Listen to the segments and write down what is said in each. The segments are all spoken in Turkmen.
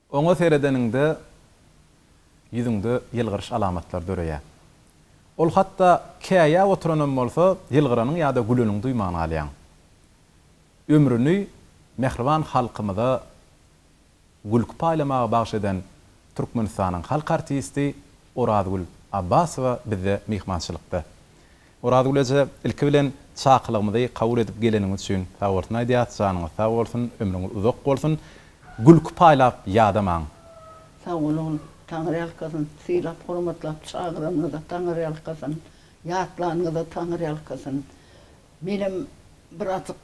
Oňa seredeniňde ýüzüňde ýylgyryş alamatlary döreýär. Ol hatda käýäp oturanam bolsa, ýylgyranyň ýa-da güleniň duýman galýaň. Ömrüni mähriban halkymyza gülki paýlamagy bagyş eden Türkmenistanyň halk artisti Orazgül Abbasowa bizde myhmançylykda. Orazgül eje, ilki bilen çakylygymyzy kabul edip geleniňiz üçin sag bolsun aýdýas, janyňyz sag bolsun, ömrüňiz uzak bolsun. Gülki paýlap ýadamaň. Sag boluň, Taňryýalkasyn, sylap-hormatlap çagyranyňyza Taňryýalkasyn, ýatlanyňyza Taňryýalkasyn. Menem birazjyk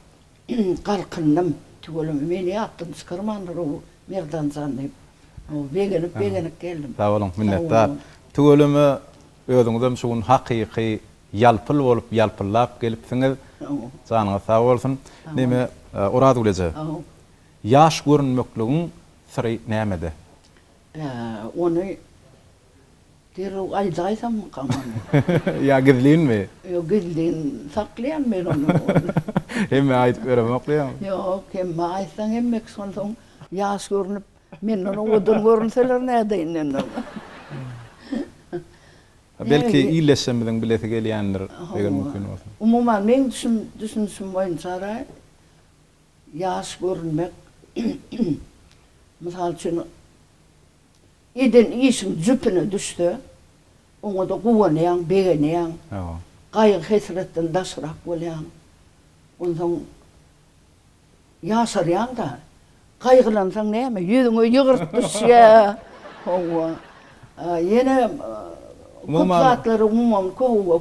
Galkyndym. Tüweleme, meni ýatdan çykarmandyr-ow, Merdan jan diýip, begenip-begenip geldim. Sag boluň, minnetdar. Tüweleme, özüňizem şu gün hakyky ýalpyl bolup ýalpyllap gelipsiňiz. Janyňyz sag bolsun. Neme, Orazgül eje, ýaş görünmekligiň syry nämede? Ony Derrew aýdaýsamykam ony. Ýa gizlinmi? Ýok, gizlin saklaýan men ony. Hemmä aýdyp ýöremok diýýäňmi? Ýok, hemmä aýtsaň hemmekiş onsoň ýaş görnüp, menden owadan görünseler nädeýin men oňa. Belki illeşsemiziň bilesi gelýändir, eger mümkin bolsa. Umuman meň düşünişim boýunçara ýaş görünmek, mysal üçin, Eden işiň jüpüne düşse, oňa-da guwanýaň, begenýäň. Gaýgy-hesretden daşrak bolýaň. Onsoň ýaşarýaň-da. Gaýgylansaň näme, ýüzüňe ýygyrty düşýär. Hawa. Ýene köp zatlary, umuman,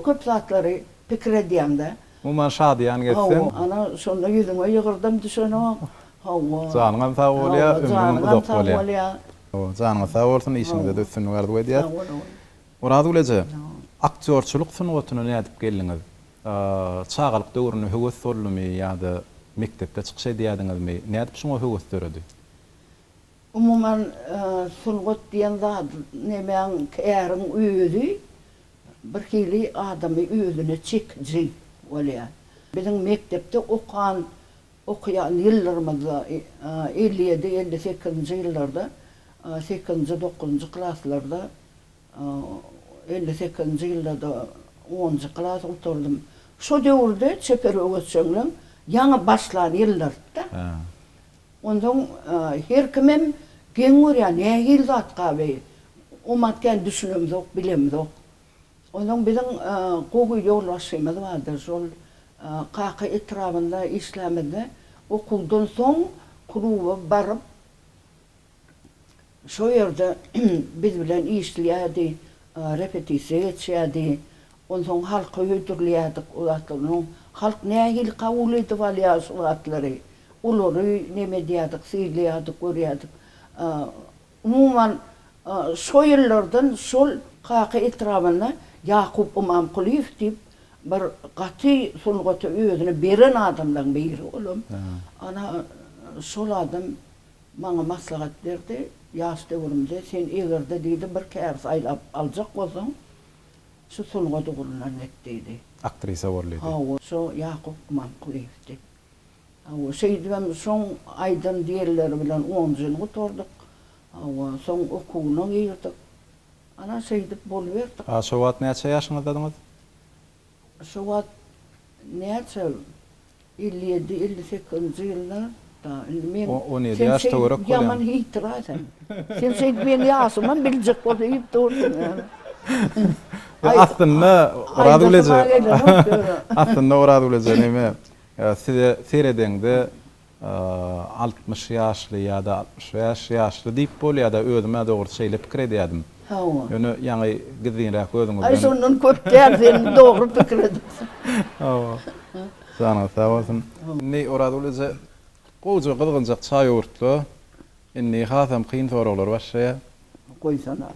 köp zatlary pikir edýäň-dä. Umuman şadyýan geçsin. Hawa, ana şonda ýüzüňe ýygyrdym düşenok. Hawa. Janyňam sag bolýa, ömrüňem uzak bolýa. Hawa, janyňyz sag bolsun, işiňizde-de üstünlik arzuw edýäs. Orazgül eje, aktýorçylyk sungatyna nädip geldiňiz? Çagalyk döwründe höwes soldumy ýa-da mekdepde çykyş edýädiňizmi? Nädip şuňa höwes döredi? Umuman, sungat diýen zat nemäň, käriň özi bir hili adamy özüne çekiji bolýar. Biziň mekdepde okan, okaýan ýyllarymyzda, elli ýedi, elli sekizinji ýyllarda, sekizinji, dokuzynjy klaslarda, elli sekizinji ýylda-da onunjy klasy gutardym. Şo döwürde çeper öwezjeňligiň ýaňy başlan ýyllardy-da. Onsoň her kimem geň görýär, nähili zatga beý? Omat kän düşünemzok, bilemzok. Onsoň biziň gowy ýolbaşçymyz bardy, şol Kaka etrabynda işlämizde, okuwdan soň kluba baryp, Şol ýerde biz bilen işleýärdi, repetisiýa geçýärdi. Onsoň halka hödürleýärdik o zatlary. Onuň halk nähili kabul edip alýar şu zatlary? Olary neme edýärdik, synlaýardyk, görýärdik. Umuman, şo ýyllardan şol Kaka etrabynda Ýakup Ymamkulyýew diýip bir gaty sungata özüni beren adamlaryň biri olam. Ana, şol adam Maňa maslahat berdi, Ýaş döwrümde sen eger-de diýdi bir käbis aýlap aljak bolsaň, şu sungat ugrundan git diýdi. Aktrisa bol diýdi. Hawa, şo Ýakup Imankulyýewdi. Hawa, şeýdibem şoň aýdan diýenleri bilen onjyny gutardyk. Hawa, soň okuwyna girdik. Ana, şeýdip boluberdik. A şo wagt näçe ýaşyňyzdadyňyz? Şo wagt näçe elli ýedi elli sekizinji ýylda da indi men On ýedi ýaş töwerek bolýar. Ýaman hytraa sen. Sen şeýdip meň ýaşymam biljek bolsa iýip dursuň ýaly. Aslynda Oraz bileje. Aslynda Oraz bileje näme size seredeňde Altmyş ýaşly ýa-da altmyş bäş ýaşly diýip bolýar-da, özüm-ä dogrusu şeýle pikir edýärdim. Hawa. Ýöne ýaňy gizlinräk özüňizden. Aý, şondan köp däl, sen dogry pikir edipsiň. Hawa. Janyňyz sag bolsun. Indi Orazguly eje gowja gyzgynjak çaý öwürtdi. Indi hasam kyn soraglar başlaýar. Goýsana.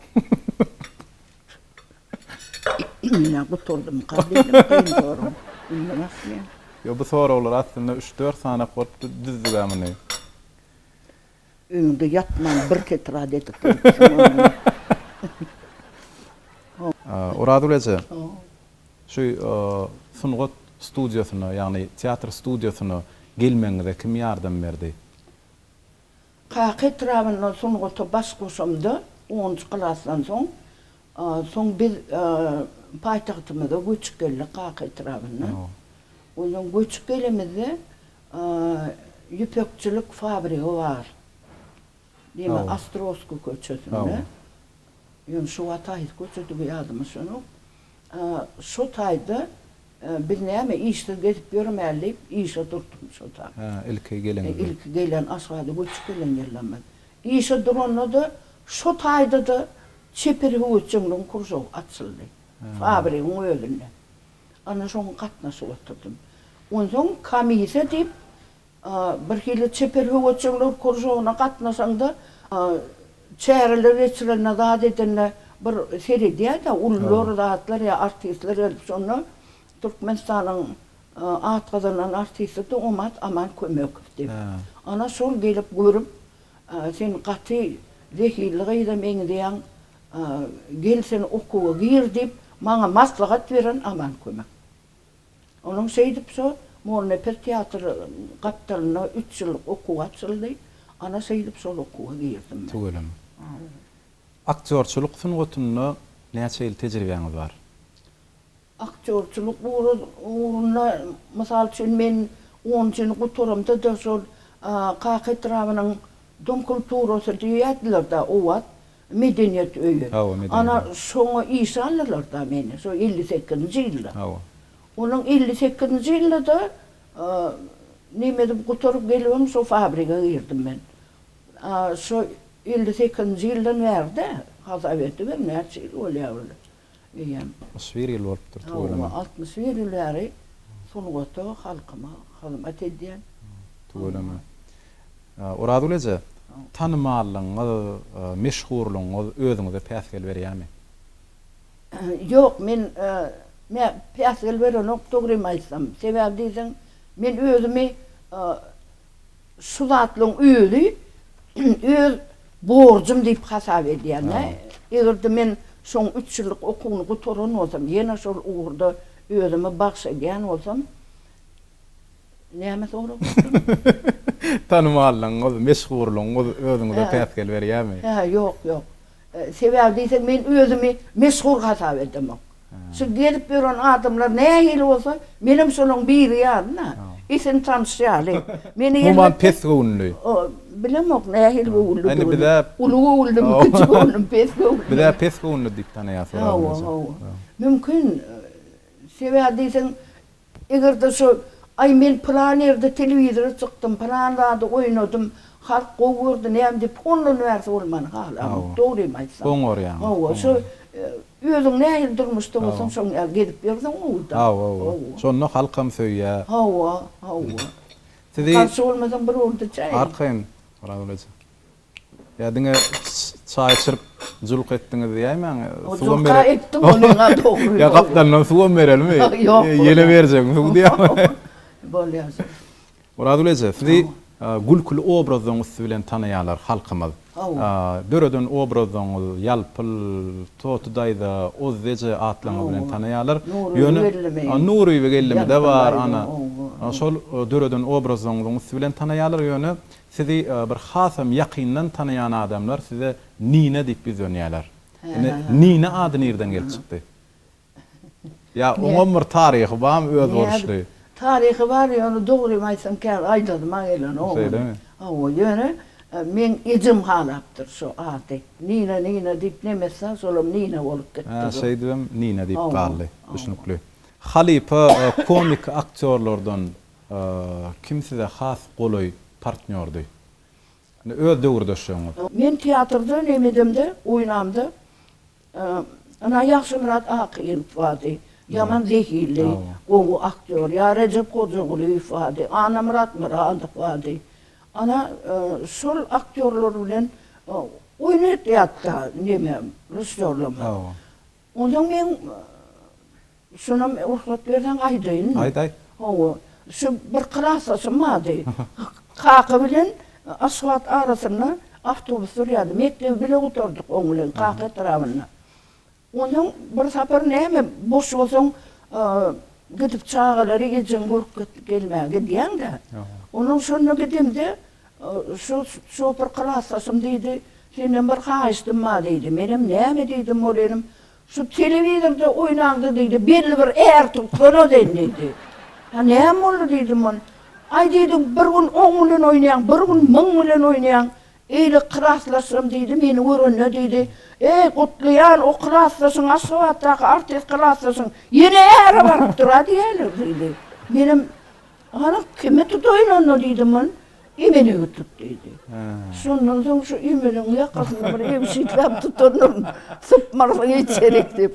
Ine, gutuldymka diýdim, kyn zorum indi bak men. Ýok, bu soraglary aslynda üç-dört sanak bolup düzdük-ä muny. Öňde ýatman bir tetrad edip goýupsyň ony. Orazgül eje, şu sungat studiýasyna, ýagny teatr studiýasyna gelmegiňize kim ýardam berdi? Kaka etrabynda sungata baş goşamda, onunjy klasdan soň, soň biz paýtagtymyza göçüp geldik Kaka etrabyndan. Ondan göçüp gelemizde ýüpekçilik fabrigi bar. Diýme Ostrowskiý köçesinde. Ýöne şu wagt haýsy köçedigi ýadyma düşenok. Şu taýda biz näme işsiz gezip ýörmäli diýip işe durdum şo taý. Hä, ilki gelenizde. Ilki gelen Aşgabada göçüp gelen ýylymyz. Işe duranda-da şo taýda-da çeper höwesjeňligiň kružogy açyldy. Fabrigiň özünde. Ana şoňa gatnaşyp oturdym. Onsoň komisiýa diýip Birhili çeper höwesjeňler kuržogyna gatnaşaňda, çäreler geçirende, zat edende bir seredýäs-ä, ulylar, zatlar, ýa artistler gelip şonda Türkmenistanyň at gazanan artistidi Omat Aman Kömekow diýip. Ana şol gelip görüp, Sen gaty zehinli gyza meňzeýäň, gel sen okuwa gir diýip, maňa maslahat beren Aman Kömek. Onuň şeýdip şo Molnepes teatr gapdalynda üç ýyllyk okuw açyldy. Ana şeýdip şol okuwa girdim men. Tüweleme. Aktýorçylyk sungatynda näçe ýyl tejribäňiz bar? Aktýorçylyk ugrunda mysal üçin men onunjyny gutaramda-da şol Kaka etrabynyň Dom kulturasy diýýärdiler-de obat. Medeniýet öýi. Hawa, medeniýet öýi. Ana, şoňa işe aldylar-da meni, şo elli sekizinji ýylda. Hawa. Onuň elli sekizinji ýylda-da neme edip gutaryp gelibem şo fabrige girdim men. A şo elli sekizinji ýyldan bäri-dä hasap edibem näçe ýyl bolýar weli. öýem. Altmyş bir ýyl bolupdyr toýlanaly. Hawa, altmyş bir ýyl bäri sungata, halkyma hyzmat edýän. Tüweleme. Orazgül eje, tanymallygyňyz, meşhurlygyňyz özüňize päsgel berýärmi? Ýok, men päsgel berenok dogrymy aýtsam. Sebäbi diýseň, men özümi Şu zatlaryň özi öz borjum diýip hasap edýän-de. Eger-de men şoň üç ýyllyk okuwyny gutaran bolsam, ýene şol ugurda özümi bagş edýän bolsam, näme sorap otyryn? Tanymallygyňyz, meşhurlygyňyz özüňize päsgel berýärmi? Hä, ýok, ýok. Sebäbi diýseň men özümi meşhur hasap edemok. Şu gezip ýören adamlar nähili bolsa, menem şolaň biri ýaly-da, isin tanyş ýaly. Meni elbetde. Umuman pes göwünli. Bilemok nähili göwünlidigini. Uly göwünlimi, kiçi göwünlimi, pes göwünlimi. Biz-ä pes göwünli diýip tanaýas bir adamyzy. Hawa, hawa. Mümkin. Sebäbi diýseň Eger-de şol, Aý, men pylan ýerde telewizora çykdym, pylan zady oýnadym, halk gowy gördi, näme diýip, ondan bärsi bolmany halamok, dogrymy aýtsam. Goňarýaňyz. Hawa, şo, özüň nähili durmuşda bolsaň, şoň ýaly gezip ýörseň gowy-da. Hawa, hawa. Şonda halkam söýýär. Hawa, hawa. Sizi. Garşy bolmasaň bir boldy-çaý. Arkaýyn, Oraz eje. Ýa diňe çaý içirip julk etdiňiz diýäýmäň. O julka etdim onyňa dogry. Ýa gapdalyndan suwam berelimi? Ýok. Ýele berjegim suw diýäýmäň. Bolýar şol. Myratguly eje, sizi gülküli obrazlaryň üsti bilen tanaýarlar halkymyz. Döreden obrazyňyz Ýalpyl, Toty daýza, Ozzy eje atlaryňyz bilen tanaýarlar. Ýöne Nuryby gelnimi-de bar, ana, şol döreden obrazyňyzyň üsti bilen tanaýarlar. Ýöne Sizi bir hasam ýakyndan tanaýan adamlar size Nina diýip ýüzlenýärler. Indi Nina ady nirden gelip çykdy? Ýa oňam bir taryhy barmy özboluşly? Taryhy bar, ýöne dogrymy aýtsam käbir aýdasyma gelenok ony. Şeýlemi? Hawa, ýöne meň ejem halapdyr şu ady. Nina, Nina diýip nemesler, şolam Nina bolup gitdi. Hä, şeýdibem Nina diýip galdy. Düşnükli. Halypa komik aktýorlardan Kim size has golaý partnýordy? Öz döwürdeşleriňiz. Men teatrda nem edemde, oýnamda, ynha Ýagşymyrat Akyýelow bardy. Ýaman zehinli, gowy aktýor. Ýa Rejep Hojagulyýew bardy. Annamyrat Myradow bardy. Ana, şol aktýorlar bilen oýun etýärdik-de neme, rysýorlama. Onsoň men şonam rugsat berseň aýdaýyn. Aýt, aýt. Hawa, şu bir klasdaşym bardy. Kaka bilen Aşgabat arasynda awtobus sürýärdi. Mekdebi bile gutardyk oň bilen Kaka etrabynda. Onsoň bir sapar näme, boş bolsaň, gidip çagalary ejeň görüp git, gelmä gidýäň-dä. Onsoň şonda gidemde, Şu şopur klasdaşym diýdi, Senden bir haýyştym bar diýdi. Menem näme diýdim ol inim, Şu telewizorda oýnanda diýdi, belli bir är tutsana sen diýdi. Ha näme boldy diýdim ol. Aý diýdi, bir gün oň bilen oýnaýaň, bir gün muň bilen oýnaýaň. Eýle klasdaşym diýdi, meni görende diýdi, Eý, Gutlyjan, o klasdaşyň, Aşgabatdaky artist klasdaşyň ýene äre barypdyr-a diýýärler diýdi. Menem Hany, kime tutaýyn onda diýdim ol. Emeliňi tut diýdi. Şondan soň şu Emeliň ýakasyndan bir ýüwşütlap tutandyr. Sypmarsyň içerik diýip.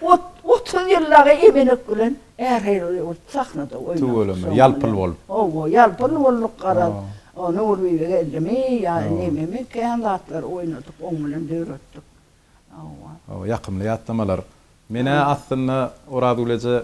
Ot, otuz ýyl dagy Emelek bilen ähirleri ol sahnada oýnadyk. Tüweleme, ýalpyl bolup. Hawa, ýalpyl bolduk garaz. O Nurbibi geldimi ýa nememi kän zatlar oýnadyk, oň bilen döretdik. Hawa. Hawa, ýakymly ýatlamalar. Men-ä aslynda Orazgül eje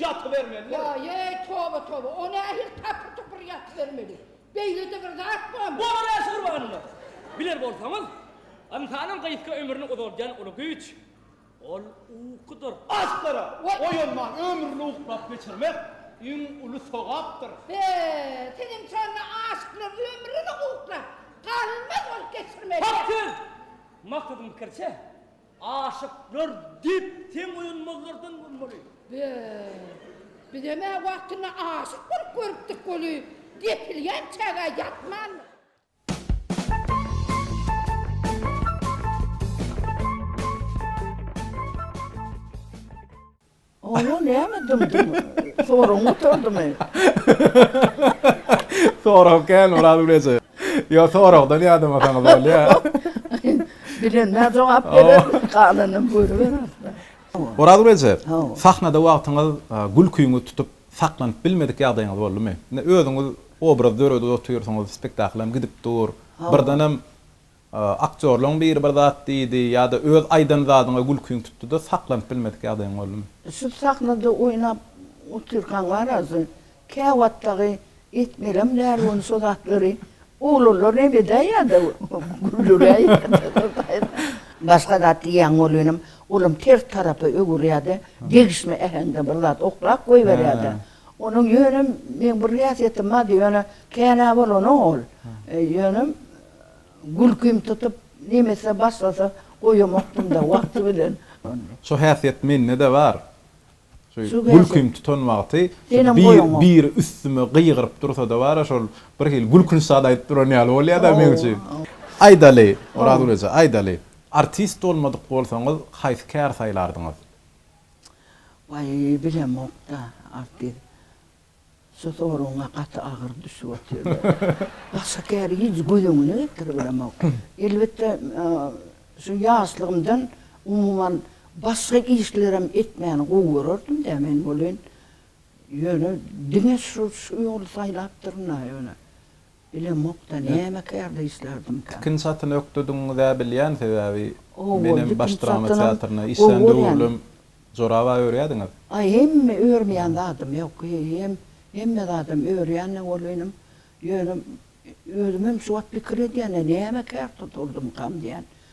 Ýatybermelidir. Ýaý-ýeý, toba, toba, o nähili tapyr-tupur ýatybermeli? Beýle-de bir zat barmy? Bolar-ä şu Gurbanyna! Biler bolsaňyz, ynsanyň gysga ömrüni uzaldýan uly güýç, ol ukudyr. Aslara! Oýanman ömrüni uklap geçirmek iň uly sogapdyr. He, seniň şonda aşyk bilen ömrüni uklap, galmaz bolup geçirmeli. Hak söz! Maksadyň pikiriçe, Aşyklar diýip seň öýüň myzdyrdan bolmaly. Be! Bizem-ä wagtynda aşyk bolup görüpdik weli, depilýän çägä ýatman. Oňa näme dymdyň? Soragyň gutardymy? Sorag kän Oraz Güneje. Ýok, soragdan ýadamasaňyz bolýar. Bilenmä jogap bererin, galanam görüber ahtar. Oraz Güneje, sahnada wagtyňyz gülkiňizi tutup, saklanyp bilmedik ýagdaýyňyz boldumy? Indi özüňiz obraz döredip otyrsyňyz, spektaklam gidip dur, birdenem Aktýorlaň biri bir zat diýdi ýa-da öz aýdan zadyňa gülkiň tutdy-da, saklanyp bilmedik ýagdaýyň boldumy? Şu sahnada oýnap otyrkaň bar azy, käwagt dagy etmelem däl ony şo zatlary, oglanlar näme edäý ýa-da güldüräý başga zat diýýän bolýanam, olam ters tarapa öwürýär-de, degişme äheňde bir zat oklap goýberýär-de. Onuň ýöne meň bir häsiýetim bardy, ýöne känä bolanok ol. Ýöne Gülkim tutup, nemese başlasa goýamakdym-da, wagty bilen ony. Şo häsiýet mende-de bar. Şu gülkim tutan wagty biri üstüme gygyryp dursa-da bar-a, şol birhili gülkünç zat aýdyp duran ýaly bolýar-da meň üçin. Aýdaly, Orazgül eje, aýdaly, artist bolmadyk bolsaňyz, haýsy kär saýlardyňyz? Waý, bilemok-da, artist. Şu soragyňa gaty agyr düşüp otyrda. Başga käri hiç göz öňüne getiribilemok. Elbetde, şu ýaşlygymdan umuman başga işlerem etmäni gowy görerdim-dä men welin, ýöne diňe şu ýoly saýlapdyryn-a ýöne. Bilemokda näme kär diýişlerdimkä. Tikin çatyny ökdediňizä bilýän sebäbi menem baş drama teatryna işlän döwürlem jorabaý örýädiňiz. Aý hemme örmeýän zadym ýok hem hemme zadam örýänne boluň inim ýöne özümem şu wagt pikir edýän näme kär tuturdymkam diýän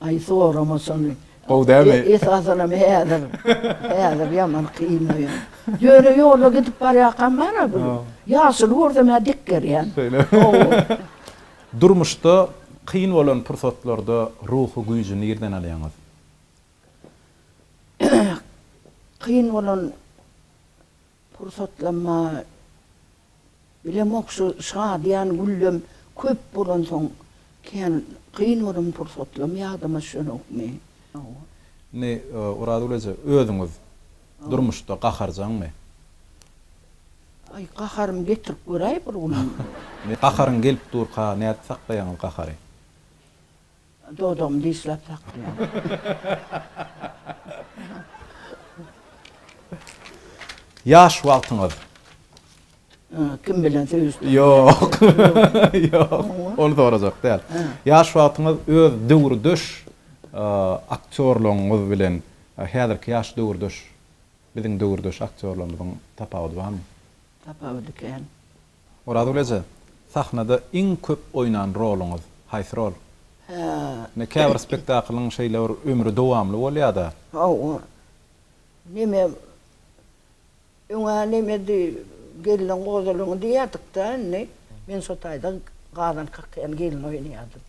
Aý sorama şony. Gowy dälmi? Esasanam häzir. Häzir ýaman kynlaýar. Ýöne ýolda gidip barýarkam bar-a bir. Ýaşuly görsem-ä dik gerýän. Şeýle. Hawa. Durmuşda kyn bolan pursatlarda ruhy güýji nirden alýaňyz? Kyn bolan. Pursatlanma bilemok şu şadyýan güllem köp bolansoň kän kyn bolan pursatlam ýadyma düşenokmy. Indi Orazgül eje özüňiz durmuşda gaharjaňmy? Aý gaharymy getirip göräý bir gün. Indi gaharyň gelip durka nädip saklaýaňyz gahary? Dodagymy dişläp saklaýaryn. Ýaş wagtyňyz. Kim bilen söýüşdiňiz? Ýok. Ýok. Ony sorajak däl. Ýaş wagtyňyz öz döwürdeş aktýorlaryňyz bilen häzirki ýaş döwürdeş biziň döwürdeş aktýorlarymyzyň tapawudy barmy? Tapawudy kän. Orazgül eje, sahnada iň köp oýnan roluňyz haýsy rol? Ine käbir spektaklyň şeýle bir ömri dowamly bolýada. Hawa. Neme öňe nemedi gelniň gozalyňy diýýädik-dä indi. Men şo taýda Gazan Kakýan gelni oýnaýardym.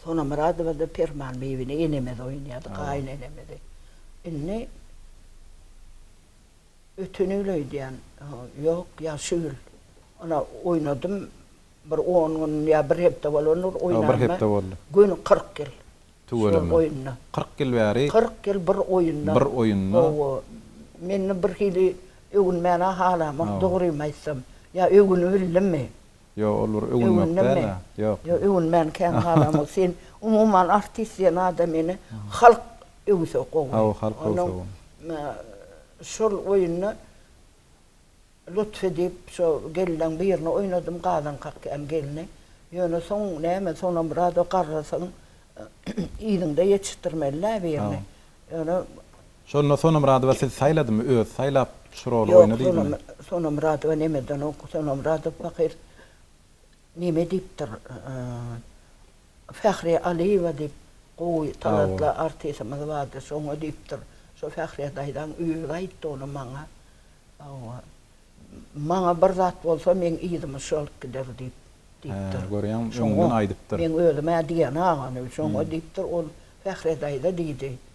Sonamyradowa-da Perman bibini enemizi oýnaýardy, gaýynenemizi. Indi. Ötenini öýdýän. Ýok, ýagşy gül. Ony oýnadym. Bir on gün ýa bir hepde bolandyr oýnanyma. Bir hepde boldy. Göni kyrk ýyl. Tüweleme. Şol oýunda. Kyrk ýyl bäri. Kyrk ýyl bir oýunda. Bir oýunda. Hawa. Meni birhili öwünmäne halamok, dogrymy aýtsam. Ýa öwünibildimmi? Ýo ol bir öwünmek däl a ýok. Ýo öwünmän kän galamok sen umuman artist diýen adamyny halk öwse gowy. Hawa halk öwse gowy. Şol oýunda lutf edip şo gelneň birini oýnadym gazaň kakýan gelni. Ýöne soň näme Sonamyradow garrasyň yzyňda ýetişdirmelidä birini. Ýöne Şonda Sonamyradowa siz saýladymy, özi saýlap şu roly Ýok, oýna diýdimi? Sonamyradowa nemedenok, Sonamyradow pahyr neme diýipdir, Fähriýe Alyýewa diýip gowy, talantly artisimiz bardy, şoňa diýipdir. Şo Fähriýe daýzaň özi aýtdy ony maňa. Hawa. Maňa bir zat bolsa, meň yzymy şu alyp gider diýip, diýipdir. Hä, görýäňmi, öňünden aýdypdyr. Meň özüm-ä diýen-agam, şoňa diýipdir, ol Fähriýe daýza diýdi,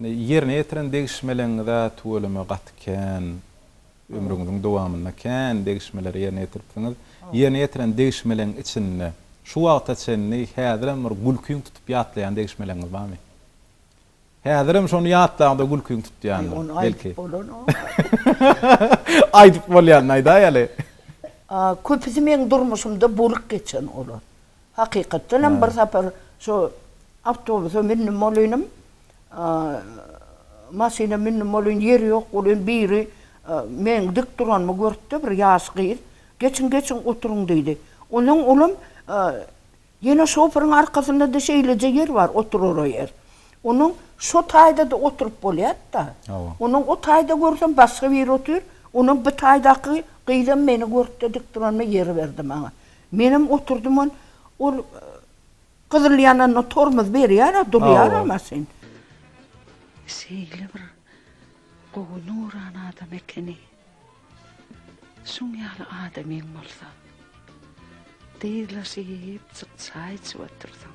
Ýerine ýetiren degişmeleňiz-ä tüweleme gaty kän. Ömrüňiziň dowamynda kän degişmeleri ýerine ýetiripsiňiz. Ýerine ýetiren degişmeleň içinde şu wagta çenli häzirem bir gülkiň tutup ýatlaýan degişmeleňiz barmy? Häzirem şony ýatlaňda gülkiň tutýandyr, belki. Ony aýdyp bolanok. Aýdyp bolýanyny aýdaýaly. Köpüsi meň durmuşymda bolup geçen olar. Hakykatdan hem bir sapar şu awtobusa mündim bolynym, maşyna mündim bolyn, ýeri ýok bolyn, biri meniň dik duranymy görüpdi, bir ýaş gyz, Geçiň, geçiň, oturyň diýdi. Onsoň olam ýene şoferyň arkasynda-da şeýleje ýer bar, oturara ýer. Onuň şo taýda-da oturyp bolýar-da. Onuň o taýda görsem başga biri otyr, onuň bu taýdaky gyzam meni görüpdi, dik duranyma ýer berdi maňa. Menem oturdymon ol gyzyl ýananda tormuz berýär-ä durýar-a maşyn. Şeýle bir gowy nurana adam ekeni. Şuň ýaly adamyň bolsa. Dyzlaşyp çyk çaý içip otursaň.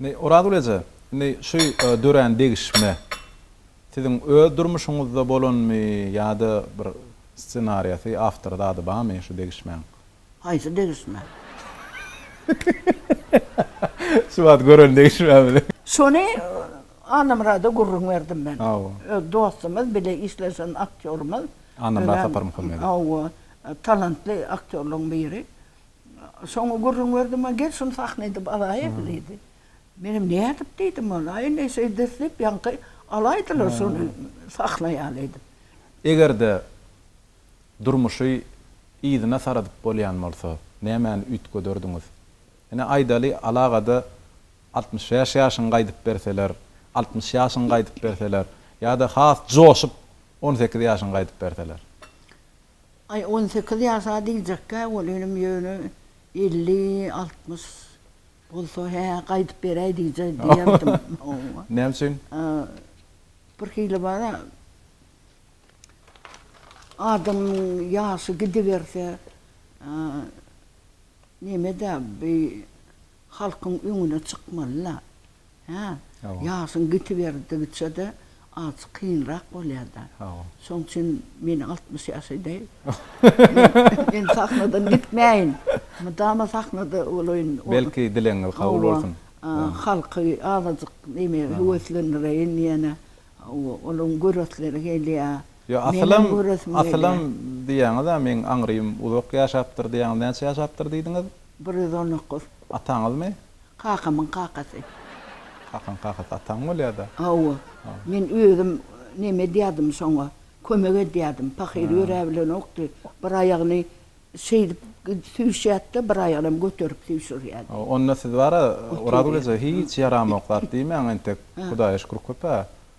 Indi, Orazgül eje, indi şu dörän degişme siziň öz durmuşyňyzda bolanmy ýa-da bir ssenariýasy, awtory zady barmy şu degişmäň? Haýsy degişme? Şu wagt gören degişmämiz? Şony Annamyrada gürrüň berdim men. Hawa. Öz dostumyz, bile işleşen aktýorymyz. Annamyrat Saparmuhammedow. Hawa, talantly aktýorlaryň biri. Soňy gürrüň berdim-ä, Gel, şuny sahna edip alaýyk, diýdi. Menem nädip diýdim oňa, Aý, indi şeýdis diýip, ýaňky alaýdylar şuny sahna ýaly edip. Eger-de durmuşy yzyna saradyp bolýan bolsa, nämäni üýtgederdiňiz? Ine, aýdaly, alagada altmyş bäş ýaşyňy gaýdyp berseler, altmyş ýaşyňy gaýdyp berseler ýa-da has joşup on sekiz ýaşyňy gaýdyp berseler? Aý, on sekiz ýasa diýjekkä, ol inim ýöne elli, altmyş bolsa, hä, gaýdyp beräý diýje diýerdim. Hawa. Näme üçin? Birhili bar-a, adamyň ýaşy gidiberse, neme-de, bi halkyň öňüne çykmaly-la. Hä? Hawa. Ýaşyň gitiberdigiçe-de az kynrak bolýar-da. Hawa. Şoň üçin meni altmyş ýaş edäý. Men sahnadan gitmäýin. Mydama sahnada bolaýyn. Belki dilegiňiz kabul bolsun. Hawa. Halky azajyk neme höweslendireýin ýene. Hawa, olaryň göresleri gelýär. Ýok, asylam, asylam diýýäňiz-ä meň aňrym uzak ýaşapdyr diýýäňiz. Näçe ýaşapdyr diýdiňiz? Bir ýüz on dokuz. Ataňyzmy? Kakamyň kakasy. Kakaň kakasy ataň bolýada? Hawa. Men özüm neme edýädim şoňa, kömek edýädim. Pahyr ýöräbilenokdy. Bir aýagyny şeýdip süýşýärdi-de, bir aýagynam göterip süýşürýärdi. Onda siz bar-a, Orazgül eje, hiç ýaramok zat diýmäň entek. Hudaýa şükür köp-ä.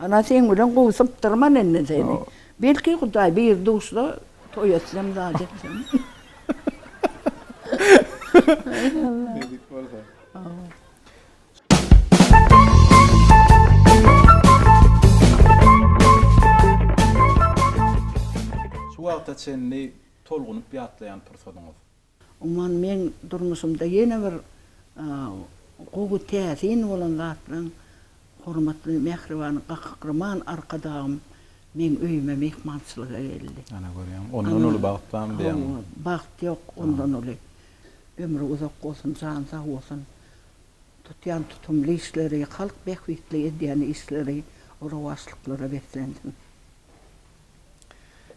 Ana seň bilen gowy sypdyrman indi seni. Belki Hudaý bir duşsa toý etsem zat etsem. Nesip bolsa. Şu wagta çenli tolgunyp ýatlaýan pursadyňyz? Umuman meň durmuşymda ýene bir gowy täsin bolan zatlaň hormatly mähriban Gahryman Arkadagym meň öýüme myhmançylyga geldi. Ana görýäňmi, ondan uly bagt barmy diýýäňmi? Hawa, bagt ýok ondan uly. Ömri uzak bolsun, jany sag bolsun. Tutýan tutumly işleri, halk bähbitli edýän işleri rowaçlyklara beslensin.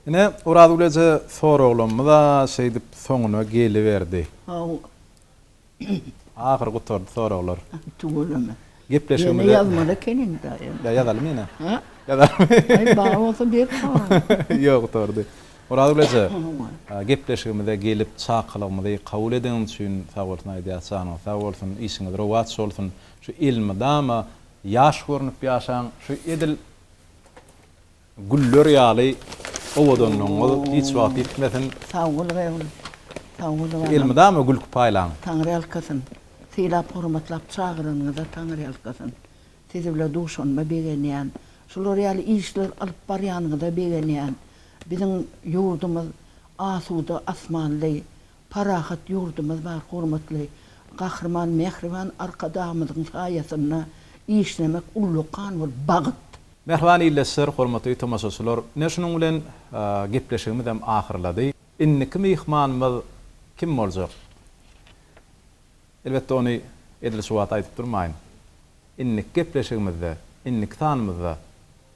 Ine, Orazgül eje soraglarymyz-a şeýdip soňuna geliberdi. Hawa. Ahyry gutardy soraglar. Tüweleme. Gepleşigimize. Ýene ýazmaly ekeniň-dä. Ýa ýazalymy ýene? Hä? Ýazalymy? Aý, bar bolsa ber soragyňy. Ýok, gutardy. Orazgül eje, gepleşigimize gelip, çakylygymyzy kabul edeniň üçin sag bolsun aýdýas. Janyňyz sag bolsun, işiňiz rowaç bolsun. Şu elmydama ýaş görnüp ýaşaň. Şu edil Güller ýaly owadanlygyňyz hiç wagt ýitmesin. Sag bol Reul. Sag bol balam. Elmydama gülki paýlaň. Taňryýalkasyn. Sylap hormatlap çagyranyňyza Taňryýalkasyn. Siz bile duşanyma begenýän. Şular ýaly işler alyp barýanyňyza begenýän. Biziň ýurdumyz asuda asmanly, Parahat ýurdumyz bar hormatly Gahryman Mähriban Arkadagymyzyň saýasynda işlemek ullu kan bul bagyt. Mähriban ildeşler, hormatly tomaşaçylar, ine şunuň bilen gepleşigimizem ahyrlady. Indiki myhmanymyz kim boljak? Elbetde ony edil şu wagt aýdyp durmaýyn. Indiki gepleşigimizde, indiki sanymyzda